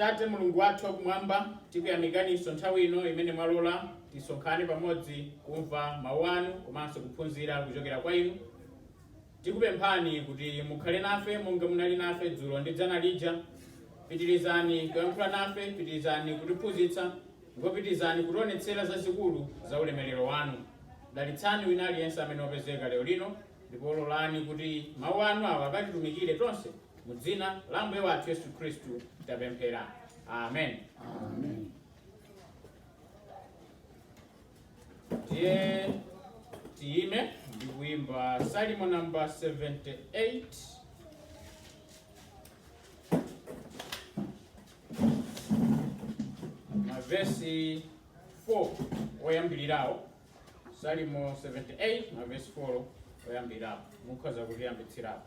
Tate Mulungu wathu wa Kumwamba, tikuyamikaninso nthawi ino imene mwalola tisonkhane pamodzi kumva Mau anu komanso kuphunzira kuchokera kwa inu. Tikupemphani kuti mukhale nafe monga munali nafe dzulo ndi dzana lija. Pitirizani kuyankhula nafe, pitirizani kutiphunzitsa, ndipo pitirizani kutionetsera zazikulu za ulemelero wanu. Dalitsani wina aliyense amene wapezeka lero lino, ndipo lolani kuti mau anu awa akatitumikire tonse Mu dzina la Ambuye wathu Yesu Khristu tapemphera. Amen. Tiye tiyime ndi kuimba Salimo number 78. Mavesi 4 oyambirirawo. Salimo 78 mavesi 4 oyambirirawo. Mukhoza kutiyambitsirapo.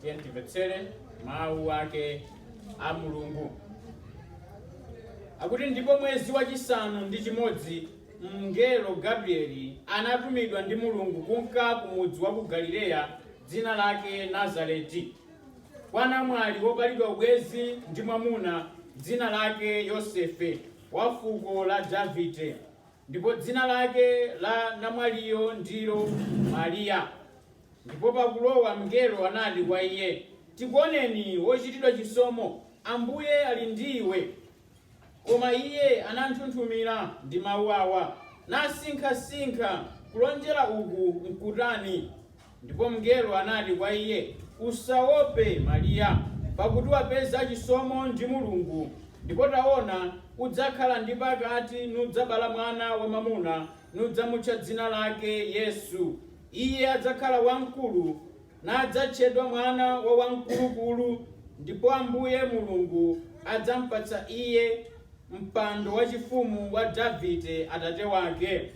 Tiye timvetsere mawu ake a Mulungu akuti ndipo mwezi wachisanu ndi chimodzi mngelo Gabrieli anatumidwa ndi Mulungu kunka ku mudzi wa ku Galileya dzina lake Nazareti kwa namwali wopalidwa ubwenzi ndi mwamuna dzina lake Yosefe wa fuko la Davide Ndipo dzina lake la namwaliyo ndilo Mariya. Ndipo pakulowa mngelo anati kwa iye, Tikuoneni, wochitidwa chisomo, Ambuye ali ndi iwe. Koma iye ananthunthumira ndi mau awa, nasinkhasinkha kulonjera uku nkutani. Ndipo mngelo anati kwa iye, Usaope, Mariya, pakuti wapeza chisomo ndi Mulungu, ndipo taona, udzakhala ndi pakati nudzabala mwana wamamuna, nudzamutcha dzina lake Yesu. Iye adzakhala wamkulu, nadzatchedwa Mwana wa Wamkulukulu, ndipo Ambuye Mulungu adzampatsa iye mpando wachifumu wa Davide atate wake.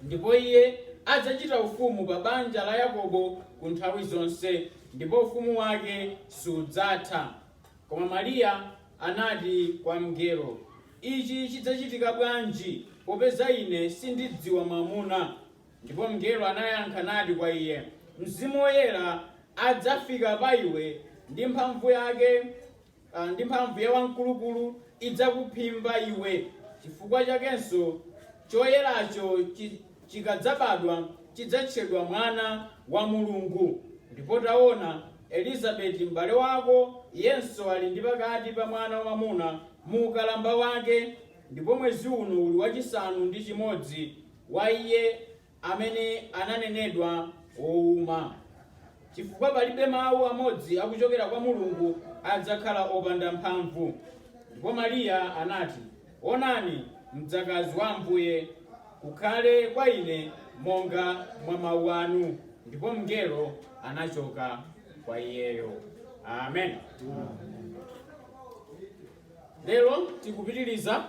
Ndipo iye adzachita ufumu pa banja la Yakobo ku nthawi zonse, ndipo ufumu wake sudzatha. Koma Mariya anati kwa mngelo, Ichi chidzachitika bwanji, popeza ine sindidziwa mwamuna? Ndipo mngelo anayankha nati kwa iye, Mzimu Woyera adzafika pa iwe, ndi mphamvu yake a, ndi mphamvu ya Wamkulukulu idzakuphimba iwe, chifukwa chakenso choyeracho chi, chikadzabadwa chidzatchedwa Mwana wa Mulungu. Ndipo taona, Elizabeti m'bale wako, iyenso ali ndi pakati pa mwana wamwamuna mu ukalamba wake, ndipo mwezi uno uli wachisanu ndi chimodzi wa iye amene ananenedwa wouma, chifukwa palibe mawu amodzi akuchokera kwa Mulungu adzakhala opanda mphamvu. Ndipo Mariya anati, Onani, mdzakazi wa Ambuye, kukhale kwa ine monga mwa mawu anu. Ndipo mngelo anachoka kwa iyeyo. Amen. Lero tikupitiriza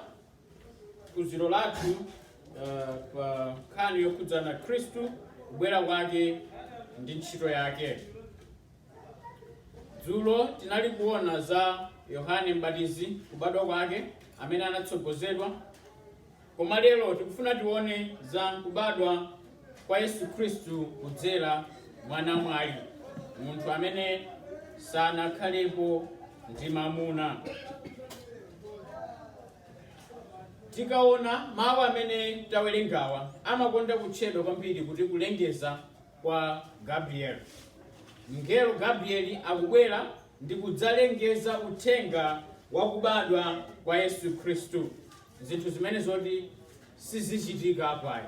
phunziro lathu uh, pa nkhani yokhudzana khristu kubwera kwake ndi ntchito yake dzulo tinali kuona za yohane mbatizi kubadwa kwake amene anatsogozedwa koma lero tikufuna tione za kubadwa kwa Yesu Khristu kudzera mwa namwali, munthu amene sanakhalepo ndi mamuna. Tikaona mawu amene tawerengawa amakonda kutchedwa kwambiri kuti kulengeza kwa Gabrieli. Mngelo Gabrieli akubwera ndi kudzalengeza uthenga wa kubadwa kwa Yesu Khristu. zinthu zimene zoti sizichitika kawiri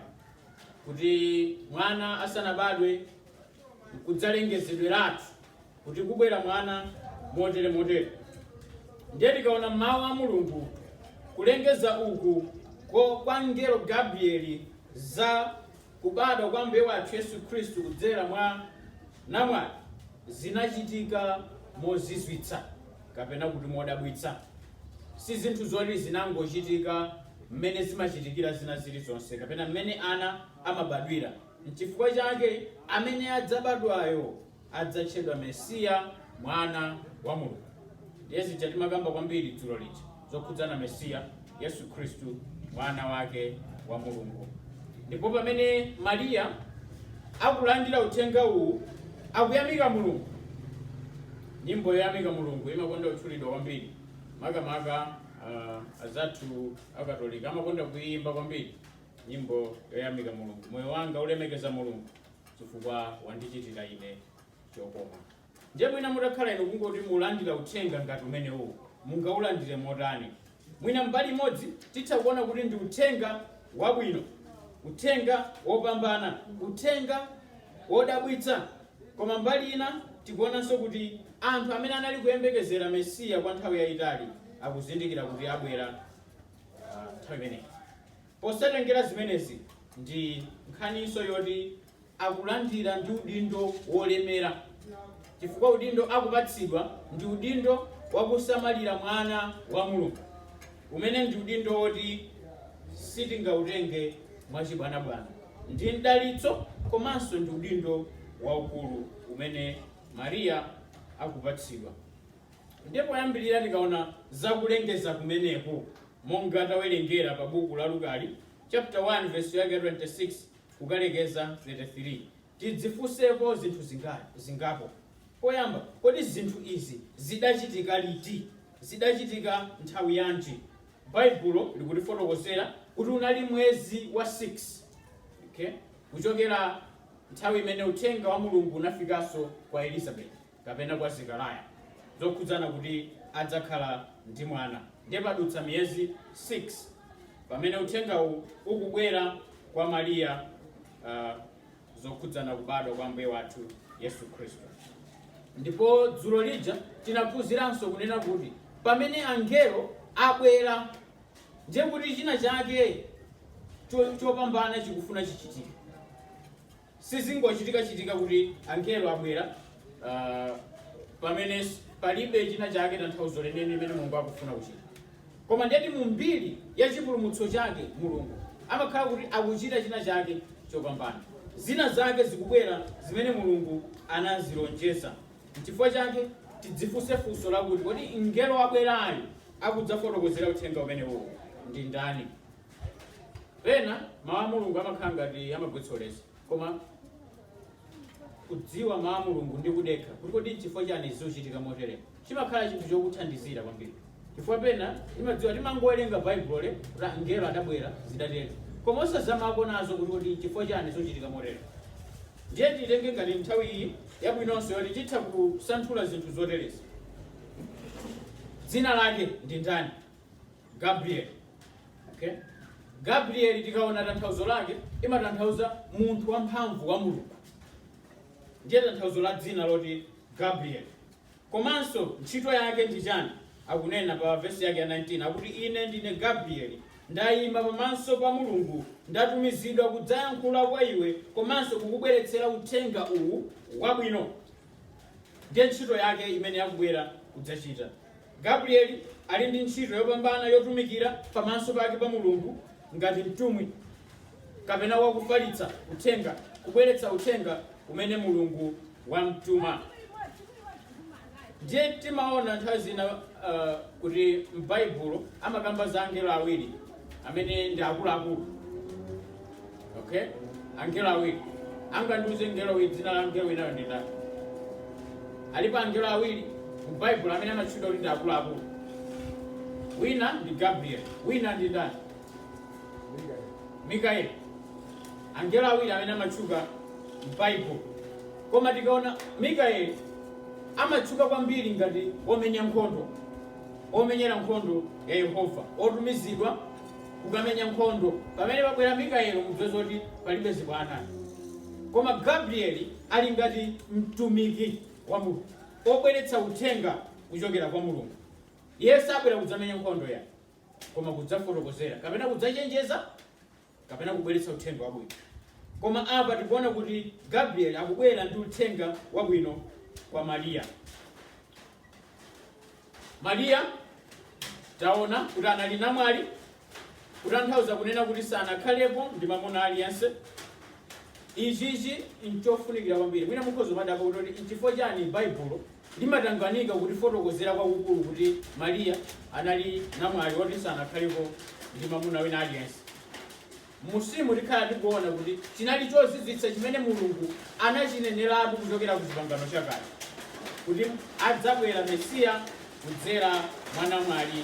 kuti mwana asanabadwe kudzalengezedweratu kuti kubwera mwana motere motere ndiye tikaona mawu a mulungu kulengeza uku ko kwa mngelo gabrieli za kubadwa kwa Ambuye wathu Yesu Khristu kudzera mwa namwali zinachitika mozizwitsa kapena kuti modabwitsa. Si zinthu zoti zinangochitika mmene zimachitikira zina zilizonse kapena mmene ana amabadwira. N'chifukwa chake amene adzabadwayo adzatchedwa Mesiya, Mwana wa Mulungu. Ndiye zija timakamba kwambiri dzulo lija zokhudzana Mesiya, Yesu Khristu, Mwana wake wa Mulungu. Ndipo pamene Mariya akulandira uthenga uwu, akuyamika Mulungu. Nyimbo yoyamika Mulungu imakonda kutchulidwa kwambiri, makamaka uh, azathu akatolika amakonda kuiyimba kwambiri nyimbo yoyamika Mulungu. Moyo wanga ulemekeza Mulungu, chifukwa wandichitira ine chokoma. Ndiye mwina mutakhala inu kungoti mulandire uthenga ngati umenewu, mungaulandire motani? Mwina mbali imodzi titha kuona kuti ndi uthenga wabwino, uthenga wopambana, uthenga wodabwitsa. Koma mbali ina tikuonanso kuti anthu amene anali kuyembekezera Mesiya kwa nthawi yayitali akuzindikira kuti abwera ah, nthawi imeneyi. Posatengera zimenezi, ndi nkhaninso yoti akulandira ndi udindo wolemera chifukwa udindo akupatsidwa ndi udindo wa kusamalira mwana wa Mulungu, umene ndi udindo woti sitingautenge mwachibwanabwana. Ndi mdalitso komanso ndi udindo waukulu umene Mariya akupatsidwa. Ndiye poyambirira tikaona za kulengeza kumeneku. Monga tawerengera pa buku la Luka, chapter 1 verse yake ya 26 kukalekeza 33, tidzifunseko zinthu zinga, zingapo. Poyamba, kodi zinthu izi zidachitika liti? Zidachitika nthawi yanji? Baibulo likutifotokozera kuti unali mwezi wa 6 okay? kuchokera nthawi imene uthenga wa Mulungu unafikanso kwa Elizabeti. kapena kwa Zekariah zokhudzana kuti adzakhala ndi mwana. Ndiye padutsa miyezi 6 pamene uthengawu ukubwera kwa Mariya uh, zokhudzana kubadwa kwa Ambuye wathu Yesu Khristu. Ndipo dzulo lija tinaphunziranso kunena kuti pamene angelo abwera ndiye kuti china chake cho- chopambana chikufuna chichitike. Sizingochitikachitika kuti angelo abwera pamene palibe china chake, tanthauzo lenileni limene Mulungu akufuna kuchita. Koma ndiyeti mu mbiri ya chipulumutso chake Mulungu amakhala kuti akuchita china chake chopambana. Zina zake zikubwera zimene Mulungu anazilonjeza. Nchifukwa chake tidzifunse funso lakuti, kodi mngelo wabwerayu akudzafotokozera uthenga umenewuwo ndi ndani? pena mawu a mulungu amakhala ngati amagwetsa ulesi koma kudziwa mawu a mulungu ndi kudekha kuti kodi chifukwa chani zikuchitika motere chimakhala chinthu chokuthandizira kwambiri chifukwa pena timadziwa timangowerenga baibulo eee kuti angelo adabwera zidatero koma osazamapo nazo kuti kodi chifukwa chani zikuchitika motere ndiye tiyitenge ngati nthawi iyi yabwinonso yoti titha kusanthula zinthu zoterezi dzina lake ndi ndani gabriel okay? gabriel tikaona tanthauzo lake imatanthauza munthu wamphamvu wa mulungu ndiye tanthauzo la dzina loti gabriel komanso ntchito yake ndi chani akunena pa vesi yake ya 19 akuti ine ndine gabrieli ndayima pamaso pa mulungu ndatumizidwa kudzayankhula kwa iwe komanso kukubweretsera uthenga uwu wabwino ndiye ntchito yake imene akubwera kudzachita Gabrieli ali ndi ntchito yopambana yotumikira pamaso pake pa Mulungu ngati mtumwi kapena wakufalitsa uthenga, kubweretsa uthenga umene Mulungu wamtuma. Ndiye timaona nthawi zina uh, kuti m'Baibulo amakamba za angelo awiri amene ndi akuluakulu okay angelo awiri angandiuze mngelo wina dzina la mngelo winayo ndi ndani alipo angelo awiri mu baibulo amene amatchuka kuti ndi akuluakulu wina ndi gabriel wina ndi ndani mikaeli angelo awiri amene amatchuka m'baibulo koma tikaona mikaeli amatchuka kwambiri ngati womenya nkhondo Womenyera nkhondo ya Yehova wotumizidwa kukamenya nkhondo. Pamene pabwera Mikayelo mudziwe zoti palibe zibwana. Koma Gabrieli ali ngati mtumiki wa Mulungu wobweretsa uthenga kuchokera kwa Mulungu. Iye sabwera kudzamenya nkhondo yayi koma kudzafotokozera kapena kudzachenjeza. kapena kubweretsa uthenga wabwino. Koma apa tikuona kuti Gabrieli akubwera ndi uthenga wabwino kwa Mariya. Mariya taona kuti anali namwali, kutanthauza kunena kuti sanakhalepo ndi mamuna aliyense. Ichichi nchofunikira kwambiri. Mwina mukhoza kumadabwa kuti nchifukwa chani Baibulo Limatangwanika kutifotokozera kwakukulu kuti Maria anali namwali woti sanakhalepo ndi mamuna wina aliyense. M'munsimu tikhala tikuona kuti chinali chozizwitsa chimene Mulungu anachineneratu kuchokera ku Chipangano Chakale kuti adzabwera Mesiya kudzera mwa namwali.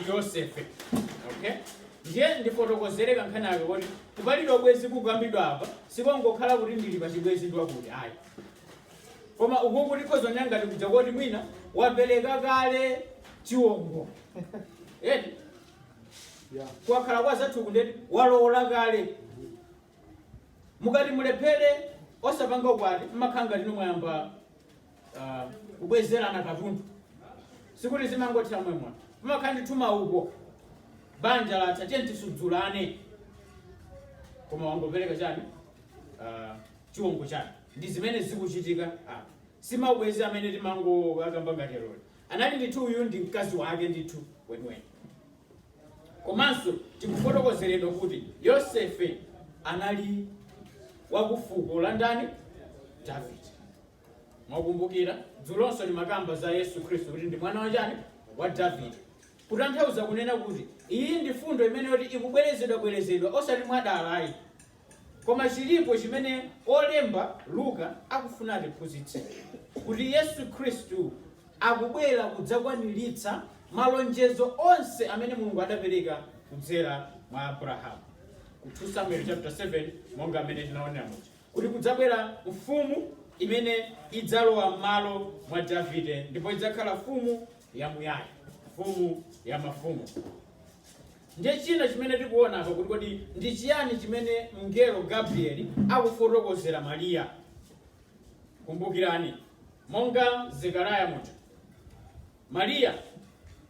ndi yosefe okay ndiye ndifotokozere kankhani kake kuti kupalidwa ubwenzi kukukambidwa apa sikongokhala kuti ndili pa chibwenzi ndi wakuti ayi koma ukuku tikhoza kunena ngati kuja koti mwina wapereka kale chiwongo eti Yeah. kukakhala kwa anzathu uku ndiye kuti walowola kale mukati mulephere osapanga ukwati mmakhanga lino mwayamba ah, kubwezerana katundu sikuti zimangothera momwemo pamakhala ndithu mmauko banja latha tiye tisudzulane koma wangopereka chani Ah, chiwongo chani ndi zimene zikuchitika apa si maubwenzi amene timangokamba ngati lero anali ndithu uyu ndi mkazi wake ndithu weniweni komanso tikufotokozeredwa kuti yosefe anali wakufuko la ndani davide Mwakumbukira, dzulonso timakamba za Yesu Khristu kuti ndi mwana wa chani? Wa Davide. Kutanthauza kunena kuti iyi ndi fundo imene yoti ikubwerezedwa bwerezedwa osati mwadala ayi. Koma chilipo chimene wolemba Luka akufuna atiphunzitse kuti Yesu Khristu akubwera kudzakwaniritsa malonjezo onse amene Mulungu adapereka kudzera mwa Abrahamu. Ku 2 Samuel chapter 7 monga amene tinaonera muja. kuti kudzabwera mfumu imene idzalowa m'malo mwa Davide ndipo idzakhala mfumu yamuyaya, mfumu ya mafumu. Ndiye china chimene tikuona apa kuti kodi ndi chiyani chimene mngelo Gabrieli akufotokozera Mariya? Kumbukirani, monga Zekariya muja, Mariya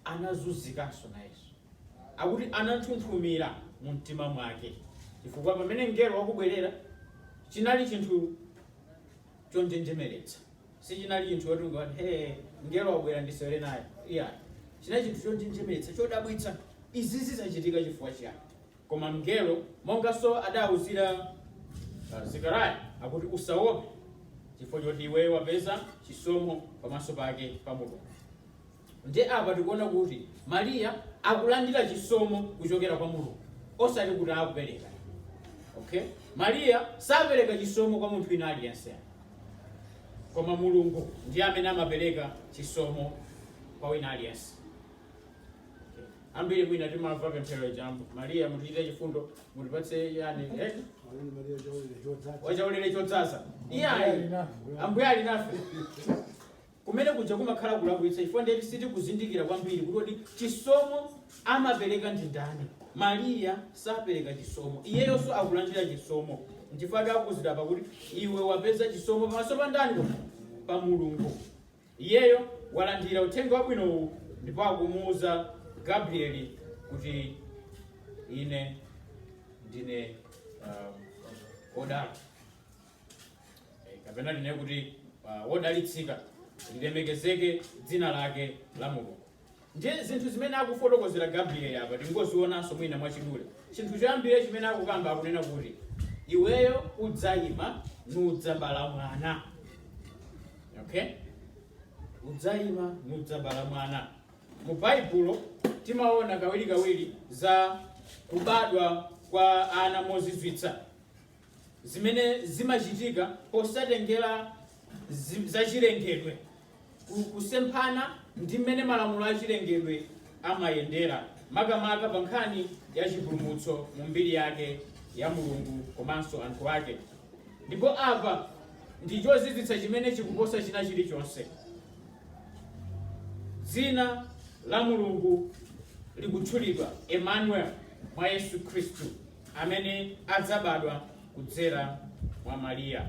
anazunzikanso nayenso. Akuti ananthunthumira mumtima mwake chifukwa pamene mngelo wakubwerera chinali chinthu chonjenjemeretsa. Sichinali chinthu choti ungati hee mngelo wakubwera ndisewere naye. Iyayi. Chinali chinthu chonjenjemeretsa, chodabwitsa. Izizi zachitika chifukwa chiyani? Koma mngelo, monganso adaawuzira Zekariya, akuti, Usaope, chifukwa choti iweyo wapeza chisomo pamaso pake pa Mulungu. Ndiye apa tikuona kuti Maria akulandira chisomo kuchokera kwa Mulungu, osati kuti akupereka. Okay? Maria sapereka chisomo kwa munthu wina aliyense, koma Mulungu ndiye amene amapereka chisomo kwa wina aliyense. ambiri mwina timamva pemphero lija mariya mutichitire chifundo mutipatse chani eh? wachaulere chodzaza iyayi ambuye ali nafe kumene kuja kumakhala kulakwitsa chifukwa ndiye kuti sitikuzindikira kwambiri kuti kodi chisomo amapereka ndi ndani mariya sapereka chisomo iyeyonso akulandira chisomo nchifukwa akuuzidwa apa kuti iwe wapeza chisomo pamaso pa ndani pa mulungu Iyeyo walandira uthenga wabwino uwu ndipo akumuuza Gabrieli kuti ine ndine um, odala Eh, kapena ndinene kuti uh, wodalitsika lilemekezeke dzina lake la mulungu Ndiye zinthu zimene akufotokozera Gabrieli apa tingozionanso mwina mwachidule. Chinthu choyambirira chimene akukamba, akunena kuti, Iweyo udzaima nudzabala mwana. Okay? Udzaima nudzabala mwana. Mu Baibulo timaona kawirikawiri za kubadwa kwa ana mozizwitsa. zimene zimachitika posatengera zi- zachilengedwe ku- kusemphana ndi mmene malamulo achilengedwe amayendera makamaka pa nkhani ya chipulumutso mu mbiri yake ya mulungu komanso anthu ake ndipo apa ndi chozizwitsa chimene chikuposa china chilichonse dzina la mulungu likutchulidwa emmanuel mwa yesu khristu amene adzabadwa kudzera mwa Mariya.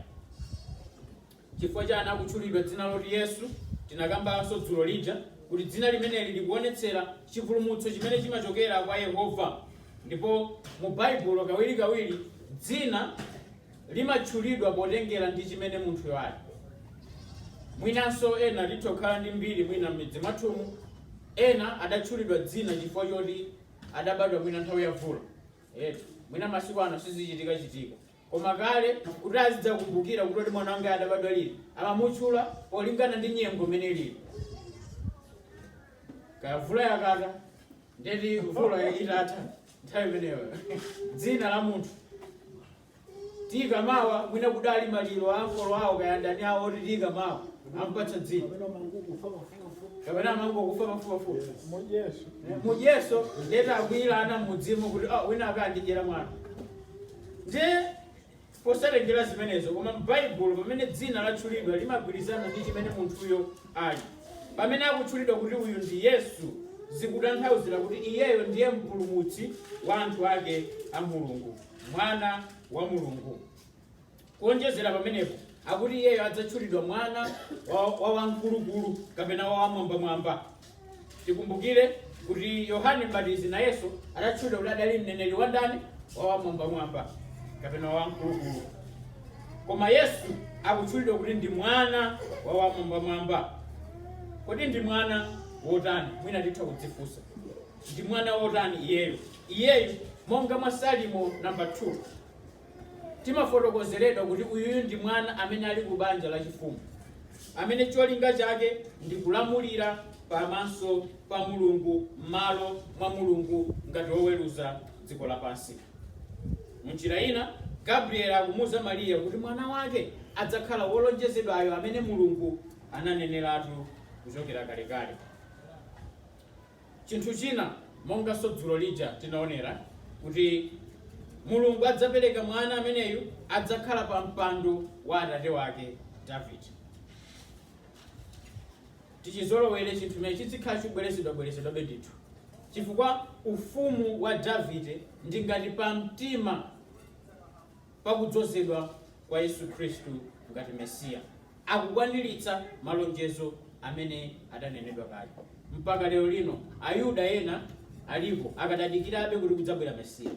Chifukwa chani akutchulidwa dzina loti Yesu, tinakambanso dzulo lija kuti dzina limeneli likuonetsera chipulumutso chimene chimachokera kwa Yehova. Ndipo mu Baibulo kawirikawiri dzina limatchulidwa potengera ndi chimene munthuyo ali. Mwinanso ena titha kukhala ndi mbiri mwina m'midzi mwathumu, ena adatchulidwa dzina chifukwa choti adabadwa mwina nthawi ya vula eti mwina masiku ano sizichitika chitika koma kale kuti azidzakumbukira kuti kodi mwana wangayu adabadwa liti amamutchula polingana ndi nyengo imene ilili kaya vula yakata nde ati vula itatha nthawi imeneyo dzina la munthu Tiika mawa mwina kudali maliro a ankolo awo kaya ndani awo ati tiika mawa ampatsa dzina kapena amangokufa pafupafupi mujeso nde takwiyirana mmudzimo kuti "Ah, wina wake andidyera mwana ndiye posatengera zimenezo koma m'baibulo pamene dzina latchulidwa limagwirizana ndi chimene munthuyo ali pamene akutchulidwa kuti uyu ndi yesu zikutanthauzira kuti iyeyo ndiye mpulumutsi wa anthu ake a mulungu mwana wa mulungu kuonjezera pamenepo akuti iyeyo adzatchulidwa mwana wa wa wamkulukulu kapena wa wamwambamwamba tikumbukire kuti yohane mbatizi nayenso adatchulidwa kuti adali mneneri wa ndani wa wamwambamwamba kapena wa wamkulukulu koma yesu akutchulidwa kuti ndi mwana wa wamwambamwamba kodi ndi mwana wotani mwina titha kudzifunsa Ndi mwana wotani iyeyu? Iyeyu, monga mwa Salimo namba 2, timafotokozeredwa kuti uyuyu ndi mwana amene ali ku banja la chifumu, amene cholinga chake ndi kulamulira pamaso pa Mulungu m'malo mwa Mulungu ngati woweruza dziko lapansi. Mu njira ina, Gabrieli akumuuza Mariya kuti mwana wake adzakhala Wolonjezedwayo amene Mulungu ananeneratu kuchokera kalekale. Chinthu china, monganso dzulo lija tinaonera, kuti Mulungu adzapereka mwana ameneyu adzakhala pa mpando wa atate wake Davide. Tichizolowere chinthu chimene chidzikhala chikubwerezedwabwerezedwabe ndithu, chifukwa ufumu wa Davide ndi ngati pamtima pa kudzozedwa kwa Yesu Khristu ngati Mesiya. akukwaniritsa malonjezo amene adanenedwa kale. Mpaka lero lino Ayuda ena alipo akadadikirabe kuti kudzabwera Mesiya.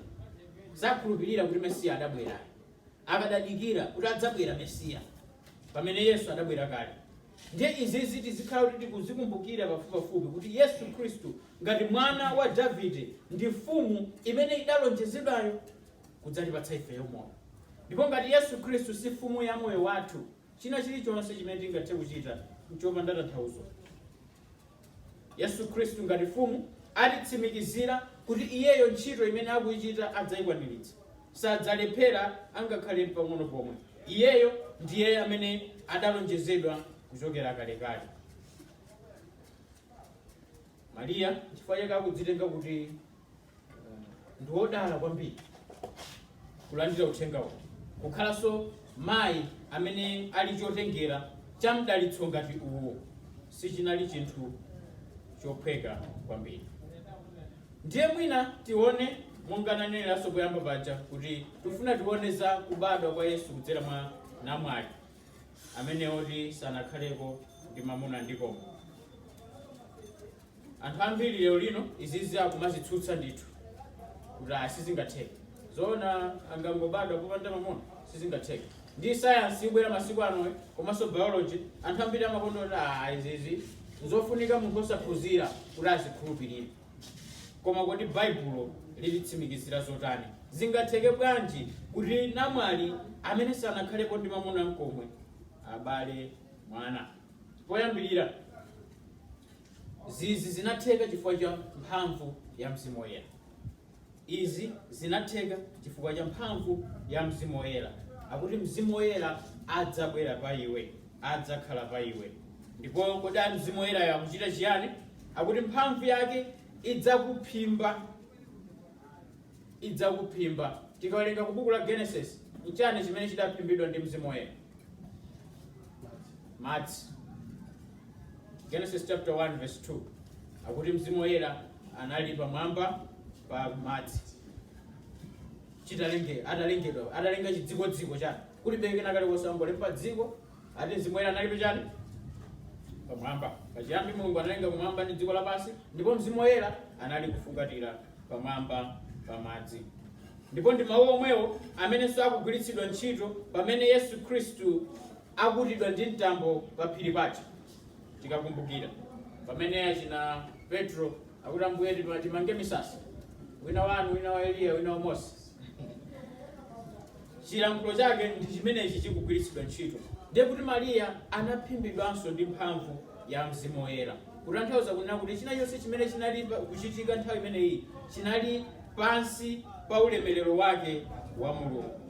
Sakhulupirira kuti Mesiya adabweraye. Akadadikira kuti adzabwera Mesiya pamene Yesu adabwera kale. Ndiye izizi tizikhala kuti tikuzikumbukira pafupipafupi kuti Yesu Khristu ngati mwana wa Davide ndi mfumu imene idalonjezedwayo. kudzatipatsa ifeyo moyo. Ndipo ngati Yesu Khristu si Mfumu ya moyo wathu, china chilichonse chimene tingathe kuchita n'chopanda tanthauzo. Yesu Khristu ngati Mfumu alitsimikizira kuti iyeyo ntchito imene akuichita adzaikwaniritsa. Sadzalephera angakhale mpang'ono pomwe. Iyeyo ndiye amene adalonjezedwa kuchokera kalekale. Mariya n'chifukwa chake akudzitenga kuti ndi wodala kwambiri kulandira uthenga uwu kukhalanso mayi amene ali chotengera cha mdalitso ngati uwo sichinali chinthu chophweka kwambiri ndiye mwina tione monga naneneranso poyamba paja kuti tifuna tione za kubadwa kwa yesu kudzera mwa namwali amene oti sanakhaleko ndi mamuna ndi komwe Anthu ambiri lero lino izizi akumazitsutsa ndithu kuti ah, sizingatheke zoona angangobadwa popanda mamuna sizingatheke ndi sayansi ibwera masiku anoyo komanso biology anthu ambiri amaona kuti ah, izizi nzofunika munthu osaphunzira kuti azikhulupirire koma kodi baibulo lilitsimikizira zotani zingatheke bwanji kuti namwali amene sanakhalepo ndi mamuna nkomwe abale mwana poyambirira Izizi zinatheka chifukwa cha mphamvu ya Mzimu Woyera. Izi zinatheka chifukwa cha mphamvu ya Mzimu Woyera. Akuti Mzimu Woyera adzabwera pa iwe, adzakhala pa iwe. Ndipo kodi a Mzimu Woyerayo akuchita chiyani? Akuti mphamvu yake idzakuphimba idzakuphimba. Tikawerenga ku buku la Genesis, nchani chimene chidaphimbidwa ndi Mzimu Woyera? Madzi. Genesis chapter 1 verse 2 akuti Mzimu Woyera anali pamwamba pa madzi chitalenge atalengedwa atalenga chidzikodziko chake kuti beke nakale kosangolemba dziko ati mzimu woyera analipo chani pamwamba pachiyambi mulungu analenga kumwamba ndi dziko lapansi ndipo mzimu woyera anali kufungatira pamwamba pa madzi ndipo ndi mawu omwewo amenenso akugwiritsidwa ntchito pamene yesu khristu akutidwa ndi mtambo pa phiri paja tikakumbukira pamene achina petro akuti ambuye timange misasa wina wanu wina wa eliya wina wa mose chilankhulo chake ndi chimenechi chikugwiritsidwa ntchito ndiye kuti mariya anaphimbidwanso ndi mphamvu ya mzimu woyera kutanthauza kunena kuti china chonse chimene chinali pa- kuchitika nthawi imeneyi chinali pansi pa ulemerero wake wa mulungu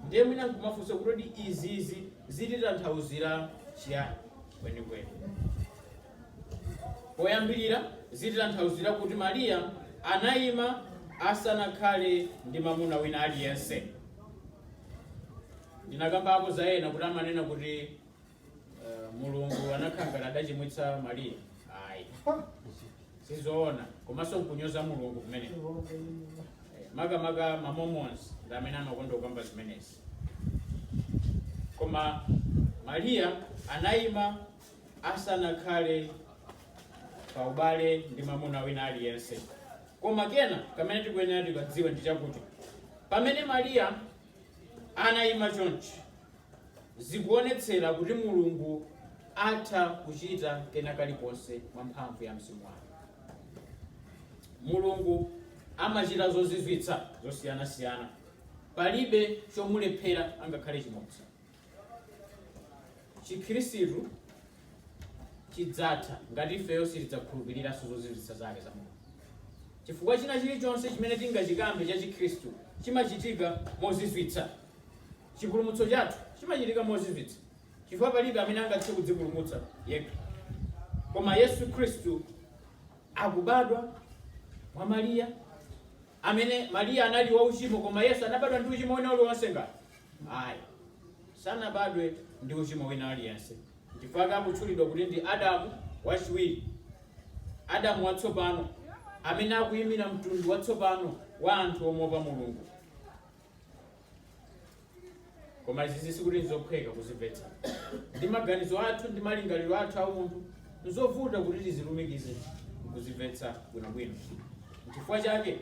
ndiye mwina nkumafunsa kuti izizi zititanthauzira chiyani kwenikweni Poyambirira, zititanthauzira kuti Mariya anaima asanakhale ndi mamuna wina aliyense. Ndinakambapo za ena kuti amanena kuti uh, Mulungu anakhala ngati adachimwitsa Mariya. Ayi, sizoona komanso nkunyoza Mulungu kumeneko. Eh, makamaka ma Mormons ndi amene amakonda kukamba zimenezi. Koma Mariya anaima asanakhale pa ubale ndi mamuna wina aliyense koma kena kamene tikuyenera tikadziwe ndi chakuti pamene mariya anayima chonchi zikuonetsera kuti mulungu atha kuchita kena kalikonse mwa mphamvu ya mzimu wake mulungu amachita zozizwitsa zosiyanasiyana palibe chomulephera angakhale chimodzi chikhristu chidzatha ngati ifeyo sitidzakhulupiriranso zozizwitsa zake za mulungu chifukwa china chilichonse chimene tingachikambe cha chikhristu chimachitika mozizwitsa chipulumutso chathu chimachitika mozizwitsa chifukwa palibe amene angathe kudzipulumutsa yekha koma yesu khristu akubadwa mwa mariya amene Maria anali wa uchimo koma Yesu anabadwa ndi uchimo wina uliwonse ngati? Ayi. Sanabadwe ndi uchimo wina uliwonse. Chifukwa chake akutchulidwa kuti ndi Adamu wachiwiri. Adamu watsopano amene akuyimira mtundu watsopano wa anthu omuopa Mulungu. koma izizi sikuti nzophweka kuzimvetsa ndi maganizo athu ndi malingaliro athu aumunthu nzovuta kuti tizilumikize nkuzimvetsa bwinobwino nchifukwa chake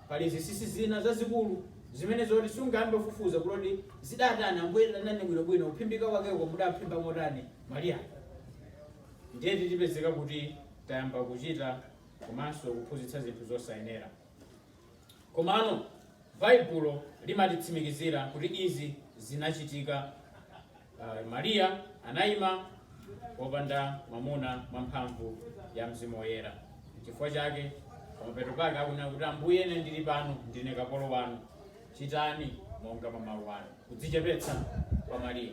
pali zinsinsi zina zazikulu zimene zoti sungayambe kufufuza kuti zidatani tambwerani nane bwinobwino kuphimbika kwakeko mudaphimba motani mariya ndiye titipezeka kuti tayamba kuchita komanso kuphunzitsa zinthu zosayenera Komano Baibulo limatitsimikizira kuti izi zinachitika. Mariya anaima wopanda mwamuna mwa mphamvu ya Mzimu Woyera. Chifukwa chake pamapeto pake akunena kuti Ambuye, ine ndili pano, ndine kapolo wanu, chitani monga mwa mawu anu. Kudzichepetsa kwa Mariya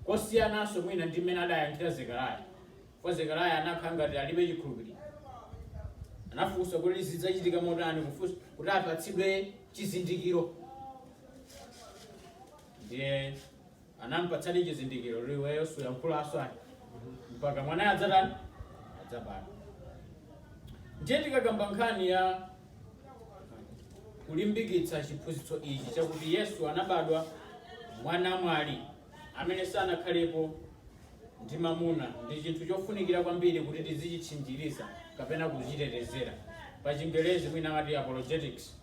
kosiyananso mwina ndi mmene adayankhira Zekariya. Chifukwa Zekariah anakhala ngati alibe chikhulupiriro. Anafunsa kuti zidzachitika motani kufunsa kuti apatsidwe chizindikiro. Ndiye anampatsadi chizindikiro kuti iweyo suyankhulanso ayi. Mpaka mwanayo adzatani? Adzabadwa. Ndiye tikakamba nkhani ya kulimbikitsa chiphunzitso ichi chakuti Yesu anabadwa mwa namwali. amene sanakhalepo ndi mamuna ndi chinthu chofunikira kwambiri kuti tizichitchinjiriza kapena kuchitetezera pa chingelezi mwina amati apologetics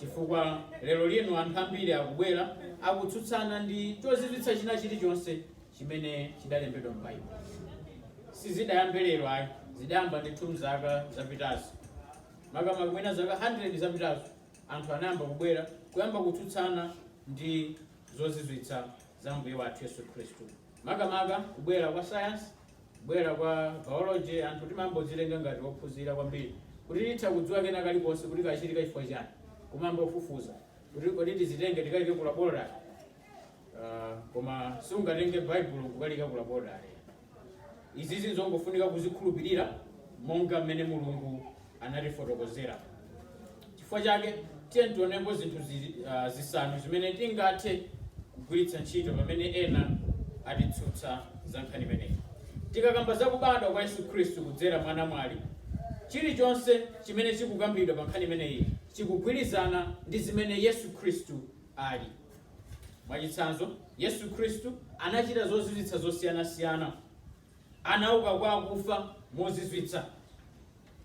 chifukwa lero lino anthu ambiri akubwera akutsutsana ndi chozizwitsa china chilichonse chimene chidalembedwa m'baibulo sizidayambe lero ayi zidayamba ndithu mzaka zapitazo makamaka mwina zaka 100 zapitazo anthu anayamba kubwera kuyamba kutsutsana ndi zozizwitsa za Ambuye wathu Yesu Khristu. Makamaka kubwera kwa science, kubwera kwa biology, anthu timayamba kudzitenga ngati ophunzira kwambiri kuti titha kudziwa kena kalikonse kuti kachitika chifukwa chani, kumayamba kufufuza kuti kodi tizitenge tikaike ku laboratory. Uh, koma sungatenge Baibulo kukaliika ku laboratory. Izizi n'zongofunika kuzikhulupirira monga mmene Mulungu anatifotokozera. Chifukwa chake tiyeni tionepo zinthu zi- ah, zisanu zimene tingathe kugwiritsa ntchito pamene ena atitsutsa za nkhani imeneyi. Tikakamba za kubadwa kwa Yesu Khristu kudzera mwa namwali, chilichonse chimene chikukambidwa pa nkhani imeneyi chikugwirizana ndi zimene Yesu Khristu ali. Mwachitsanzo, Yesu Khristu anachita zozizwitsa zosiyanasiyana. Anauka kwa akufa mozizwitsa.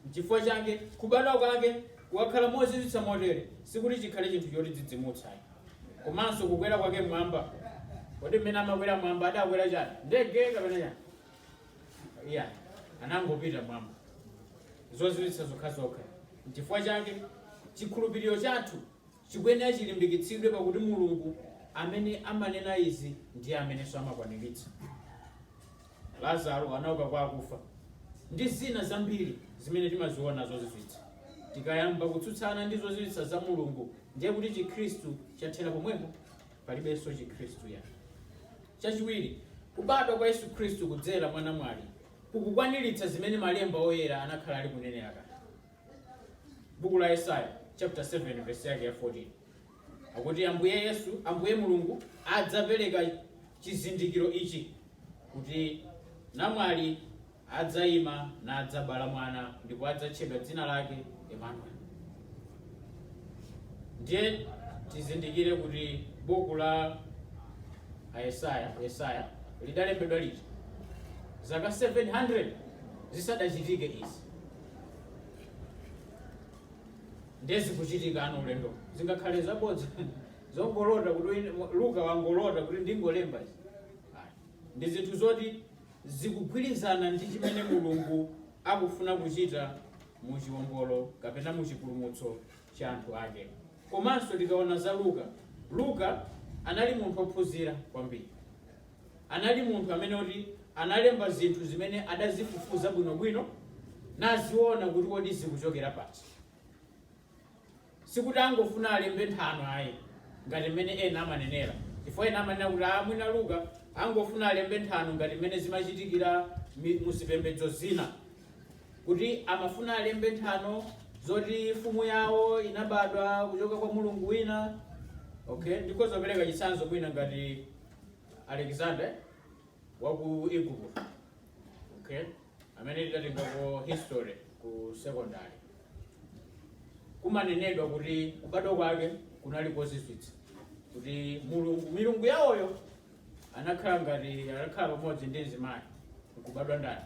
N'chifukwa chake kubadwa kwake kukakhala mozizwitsa motere sikuti chikhale chinthu chotidzidzimutsa. Komanso kukwera kwake mmwamba, kodi mmene amakwera mmwamba adakwera chani? Ndege kapena chani? Ayi, anangopita mmwamba. Zozizwitsa zokhazokha. N'chifukwa chake chikhulupiriro chathu chikuyenera chilimbikitsidwe pakuti Mulungu amene amanena izi ndiye amenenso amakwaniritsa. Lazaro anauka kwa akufa ndi zina zambiri zimene timaziona zozizwitsa. Tikayamba kutsutsana ndi zozizwitsa za Mulungu ndiye kuti Chikhristu chathera pomwepo, palibenso Chikhristu ayi. Chachiwiri, kubadwa kwa Yesu Khristu kudzera mwa namwali kukukwaniritsa zimene malemba oyera anakhala ali kunena kale. buku la yesaya chapter 7 verse yake ya 14 akuti ambuye yesu ambuye mulungu adzapereka chizindikiro ichi kuti namwali adzayima nadzabala mwana ndipo adzatchedwa dzina lake emanueli ndiye tizindikire kuti buku la ayesaya yesaya lidalembedwa liti zaka 700 zisadachitike izi ndiye zikuchitika uno ulendo zingakhale zabodza zongolota kuti wina- luka wangolota kuti ndingolemba izi Ayi. ndi zinthu zoti zikugwirizana ndi chimene mulungu akufuna kuchita mu chiwombolo kapena mu chipulumutso cha anthu ake komanso tikaona za luka luka anali munthu ophunzira kwambiri anali munthu amene kuti analemba zinthu zimene adazifufuza bwinobwino naziona kuti kodi zikuchokera pati. Sikuti angofuna alembe nthano ayi ngati mmene ena amanenera, chifukwa ena amanena kuti a mwina Luka angofuna alembe nthano ngati mmene zimachitikira mi- mu zipembedzo zina kuti amafuna alembe nthano zoti mfumu yawo inabadwa kuchoka kwa mulungu wina okay ndikhoza kupereka chitsanzo mwina ngati Alexander wa ku Igupto okay amene tidatengako history ku secondary kumanenedwa kuti kubadwa kwake kunali kozizwitsa kuti mulungu milungu yawoyo anakhala ngati anakhala pamodzi ndi mzimayi nkubadwa ndani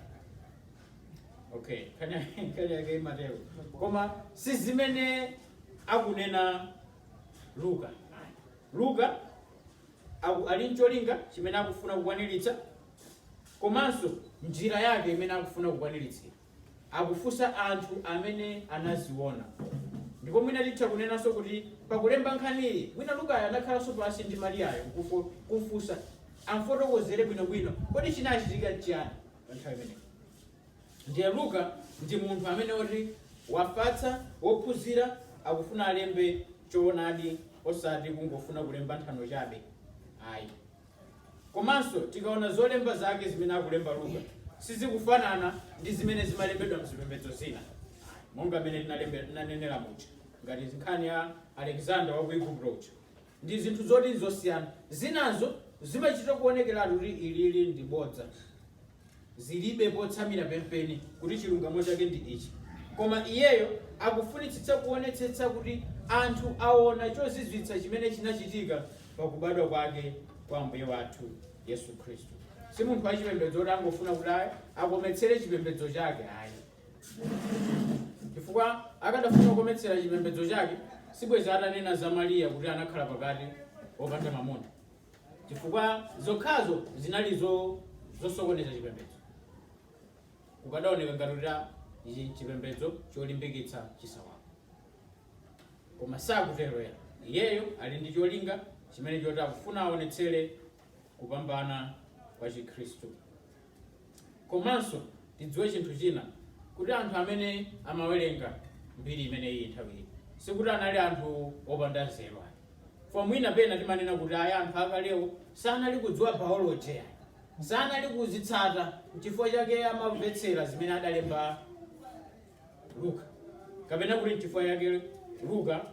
okay nkhani yake imatero koma si zimene akunena luka luka Aku, ali ncholinga chimene akufuna kukwaniritsa komanso njira yake imene akufuna kukwaniritsira. Akufunsa anthu amene anaziona. Ndipo mwina titha kunenanso kuti pakulemba nkhaniyi, mwina Lukayo anakhalanso pansi ndi Mariyayo nkufo, kumfunsa amfotokozere bwinobwino kodi chinachitika nchiyani pa nthawi imeneyi. Ndiye Luka ndi munthu amene woti wafatsa, wophunzira, akufuna alembe choonadi osati kungofuna kulemba nthano chabe ayi. Komanso tikaona zolemba zake zimene akulemba Luka sizikufanana ndi zimene zimalembedwa mzipembedzo zina monga mmene tinalembe- tinanenera muja ngati nkhani ya Alexander wa ku Igupto uja. ndi zinthu zoti n'zosiyana. Zinazo zimachita kuonekeratu kuti ilili ndi bodza. Zilibe potsamira penipeni kuti chilungamo chake ndi ichi. Koma iyeyo akufunitsitsa kuonetsetsa kuti anthu aone chozizwitsa chimene chinachitika pa kubadwa kwake kwa Ambuye wathu Yesu Khristu. Si munthu wachipembedzo woti angofuna kuti ayi akometsere chipembedzo chake ayi. chifukwa akadafuna kukometsera chipembedzo chake sibwezi atanena za mariya kuti anakhala pakati opanda mamuna chifukwa zokhazo zinali zo- zosokoneza chipembedzo chikadaoneka ngati kuti a- ichi nchipembedzo cholimbikitsa chisawawa koma sakutero ayi iyeyo ali ndi cholinga chimene choti akufuna aonetsere kupambana kwa chikhristu Komanso tidziwe chinthu china kuti anthu amene amawerenga mbiri imeneyi nthawi iyo sikuti anali anthu opanda nzeru ayi. Chifukwa mwina pena timanena kuti ayi anthu akalewo sanali kudziwa biology ayi. Sanali kuzitsata n'chifukwa chake amamvetsera zimene adalemba Luka. Kapena kuti n'chifukwa chake Luka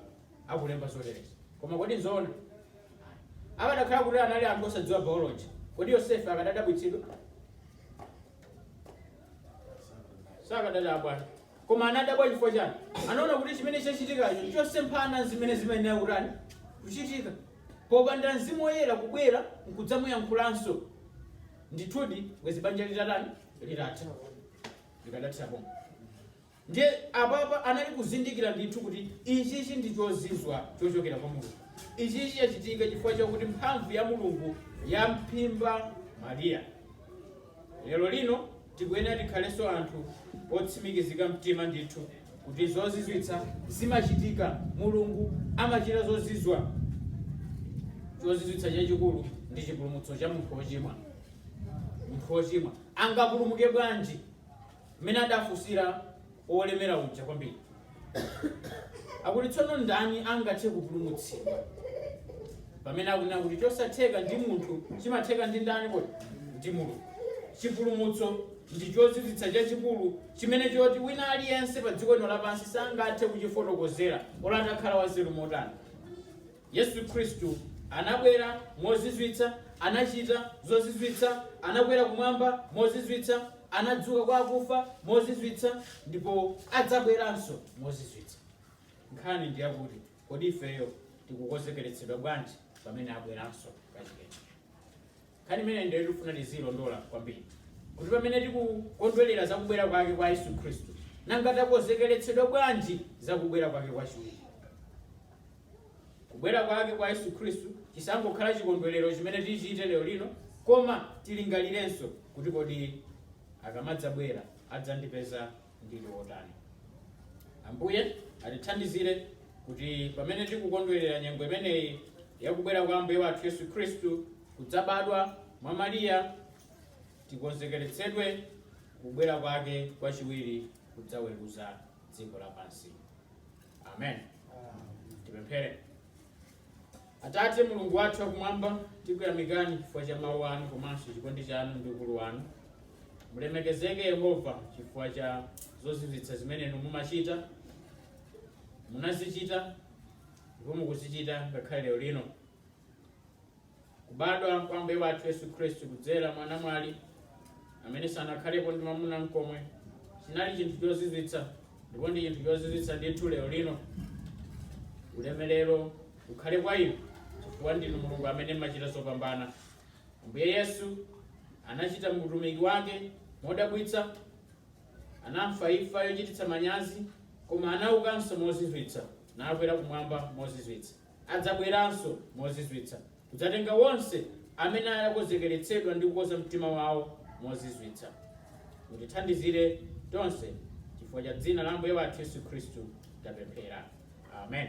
akulemba zoterezi. Koma kodi nzoona? Ayi. Akadakhala kuti anali anthu osadziwa biology, kodi Yosefe akadadabwitsidwa? Sakadadabwa. Koma anadabwa chifukwa chani? Anaona kuti chimene chachitikacho nchosemphana ndi zimene zimayenera kutani kuchitika. Popanda mzimu woyera kubwera nkudzamuyankhulanso, ndithudi bwezi banja litatani litatha likadathera pomwe. Ndiye apapa anali kuzindikira ndithu kuti ichichi ndi chozizwa chochokera kwa Mulungu. Ichichi chachitika chifukwa chakuti mphamvu ya Mulungu yamphimba Maria. Lero lino tikuyenera tikhalenso anthu otsimikizika mtima ndithu kuti zozizwitsa zimachitika. Mulungu amachita zozizwa. Chozizwitsa chachikulu ndi chipulumutso cha munthu wochimwa. Munthu wochimwa angapulumuke bwanji? mmene adafunsira wolemera uja kwambiri akuti tsono ndani angathe kupulumutsidwa pamene akunena kuti chosatheka ndi munthu chimatheka ndi ndani kodi ndi mulungu chipulumutso ndi chozizwitsa chachikulu chimene choti wina aliyense pa dziko lino lapansi sangathe kuchifotokozera olo atakhala wanzeru motani Yesu Khristu anabwera, mozizwitsa, anachita zozizwitsa, anakwera Kumwamba, mozizwitsa, anadzuka kwa akufa, mozizwitsa, ndipo adzabweranso, mozizwitsa. Nkhani ndi yakuti, kodi ifeyo tikukonzekeretsedwa bwanji pamene abweranso kachikenanso? Nkhani imeneyi ndiyo tikufuna tiziilondola kwambiri, kuti pamene tikukondwerera za kubwera kwake kwa Yesu Khristu, nanga takonzekeretsedwa bwanji za kubwera kwake kwachiwiri? Kubwera kwake kwa Yesu Khristu chisangokhala chikondwerero chimene tichite lero lino, koma tilingalirenso kuti kodi akamadzabwera adzandipeza ndili wotani. Ambuye atithandizire kuti pamene tikukondwerera nyengo imeneyi yakubwera kwa Ambuye wathu Yesu Khristu kudzabadwa mwa Mariya, tikonzekeretsedwe kubwera kwake kwachiwiri kudzaweruza dziko lapansi. Amen. Tipemphere. Atate, Mulungu wathu wakumwamba, tikuyamikani chifukwa cha mawu anu komanso chikondi chanu ndi ukulu wanu. Mulemekezeke Yehova chifukwa cha zozizwitsa zimene inu mumachita, munazichita ndipo mukuzichita ngakhale lero lino. Kubadwa kwa Ambuye wathu Yesu Khristu kudzera mwa namwali amene sanakhalepo ndi mwamuna nkomwe chinali chinthu chozizwitsa ndipo ndi chinthu chozizwitsa ndithu lero lino. Ulemerero ukhale kwa inu chifukwa ndinu Mulungu amene mmachita zopambana. Ambuye Yesu anachita utumiki wake modabwitsa, anafa imfa yochititsa manyazi, koma anaukanso mozizwitsa nakwera kumwamba mozizwitsa. adzabweranso mozizwitsa kudzatenga onse amene akonzekeretsedwa ndi kukonza mtima wawo mozizwitsa. Mutithandizire tonse chifukwa cha dzina la Ambuye wathu Yesu Khristu tapemphera. Amen.